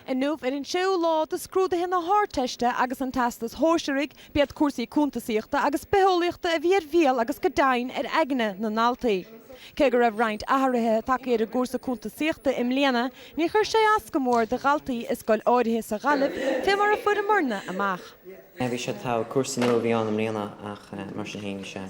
Inniu, ar an séú lá de scrúduithe na hArdteiste agus an Teastais Shóisearaigh, b'iad cúrsaí cuntasaíochta agus bitheolaíochta a bhí ar bhéal agus go deimhin ar aigne na ndaltaí. Cé go raibh roinnt athruithe tagtha ar an gcúrsa cuntasaíochta i mbliana, níor chuir sé as go mór do dhaltaí i scoil áirithe sa Ghaillimh, fé mar a fuaireamarna amach. Bhí sé togha, cúrsa nua a bhí ann i mbliana ach mar sin fhéin bhí sé.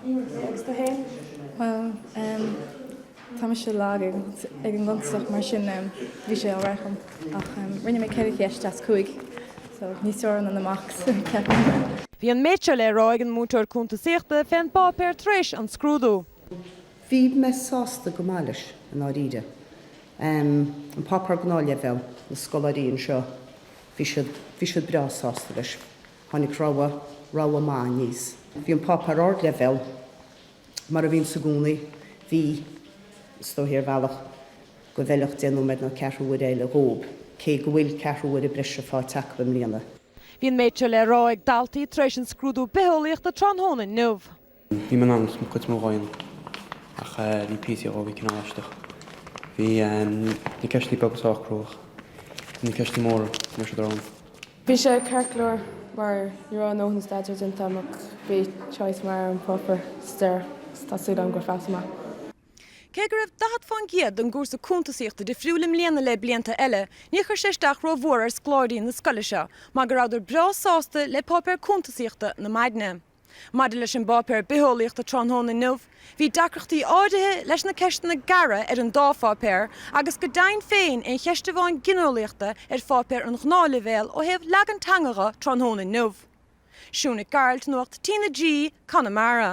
Agus dhuitse ansin? Bhuel, em, tá mise lag ag an gcuntasaíocht mar sin, em, bhí sé alright dhom ach, em, rinne mé ceithre cheist as cúig so níos fearr ná na mocks, ceapaim. Bhí an méid seo le rá ag an múinteoir cuntasaíochta fén bpáipéar tar éis an scrúdú. Bhí mé sásta go maith leis, i ndáiríre. Em, an páipeár gnáthleibhéal, na scoláirí anseo, bhí siad, bhí siad breá sásta leis. Tháinig rogha, rogha maith aníos. Bhí an páipéar ardleibhéil, mar a bhíonn sé i gcónaí. Bhí, is dóigh ar bhealach go bhfeilfeadh deich nóiméad nó ceathrú uaire eile dhóibh, cé go bhfuil ceathrú uaire breise fáighte acu i mbliana. Bhí an méid seo le rá ag daltaí tar éis an scrúdú bitheolaíochta tráthnóna inniu. Bhí mé in ann cuid mhaith dhó a dhéanamh ach bhí píosaí dhó a bhí cineál aisteach. Bhí na ceisteanna beaga sách crua ach, bhí na ceisteanna móra ní raibh siad ródhona. Bhí sé ceart go leor mar ní raibh mo dhóthain staidéar déanta agam ach bhí choice maith ar an bpáipéar sa deireadh so tá súil agam gur phassaigh mé. Cé go raibh daichead fán gcéad den gcúrsa cuntasaíochta difriúil i mbliana le blianta eile, níor chuir sé isteach ró mhór ar scoláirí na scoile seo mar go rabhadar breá sásta le páipéir cuntasaíochta na maidne. Maidir leis an bpáipéar bitheolaíochta tráthnóna inniu, bhí deacrachtaí áirithe leis na ceisteanna gearra ar an dá pháipéar agus go deimhin féin i gceist amháin gineolaíochta ar pháipéar an ghnáthleibhéil ó thaobh leagan teanga dho tráthnóna inniu. Siún Nic Gearailt, Nuacht TnaG, Conamara.